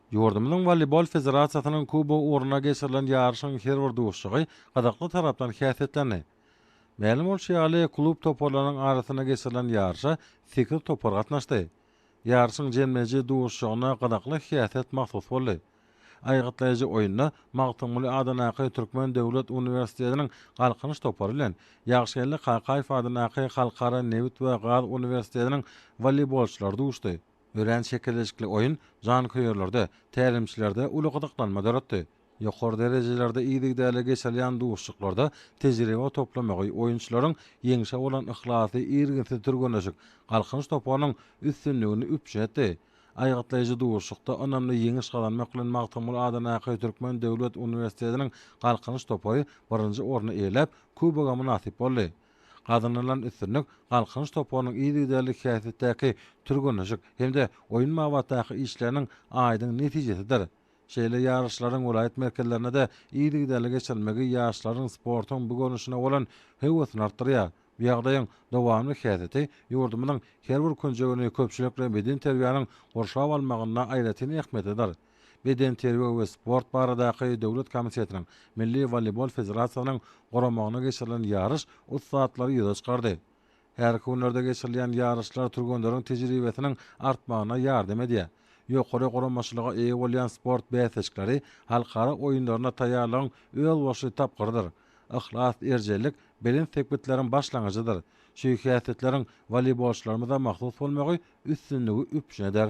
Ýurdumyzyň Woleýbol federasiýasynyň Kubogy ugrunda geçirilen ýaryşyň her bir duşuşygy gyzykly tarapdan häsiýetlendi. Mälim bolşy ýaly, klub toparlarynyň arasynda geçirilen ýaryşa sekiz topar gatnaşdy. Ýaryşyň jemleýji duşuşygyna gyzykly häsiýet mahsus boldy. Aýgytlaýjy oýunda Magtymguly adyndaky Türkmen döwlet uniwersitetiniň Galkynyş topary bilen Ýagşygeldi Kakaýew adyndaky Halkara nebit we gaz uniwersitetiniň woleýbolçylary duşdy. Örän çekeleşikli oýun janköýerlerde, tälimçilerde uly gyzyklanma döretdi. Ýokary derejelerde yzygiderli geçirilýän duşuşyklarda tejribe toplamagy, oýunçylaryň ýeňşe bolan yhlasy, irginsiz türgenleşik Galkynyş toparynyň üstünligini üpjün etdi. Aýgytlaýjy duşuşykda ynamly ýeňiş gazanmak bilen Magtymguly Adanaýaky Türkmen döwlet uniwersitetiniň Galkynyş topary birinji orny eýeläp, kuboga mynasyp boldy. Gazanylan üstünlik Galkynyş toparynyň yzygiderli häsiýetdäki türgenleşik hem-de oýun babatdaky işleriniň aýdyň netijesidir. Şeýle ýaryşlaryň welaýat merkezlerinde-de yzygiderli geçirilmegi ýaşlaryň sportuň bu görnüşine bolan höwesini artdyrýar. Bu ýagdaýyň dowamly häsiýeti ýurdumyzyň her bir künjegini köpçülikleýin bedenterbiýäniň gurşap almagynda aýratyn ähmiýetlidir. Bedenterbiýe we sport baradaky döwlet komitetiniň, Milli woleýbol federasiýasynyň guramagynda geçirilen ýaryş ussatlary ýüze çykardy. Härki günlerde geçirilýän ýaryşlar türgenleriň tejribesiniň artmagyna ýardam edýär. Ýokary guramaçylyga eýe bolýan sport bäsleşikleri halkara oýunlaryna taýýarlygyň özboluşly tapgyrydyr. Yhlas, erjellik belent sepgitleriň başlangyjydyr. Şeýhäsiýetleriň woleýbolçylarymyza mahsus bolmagy üstünligi üpjün eder.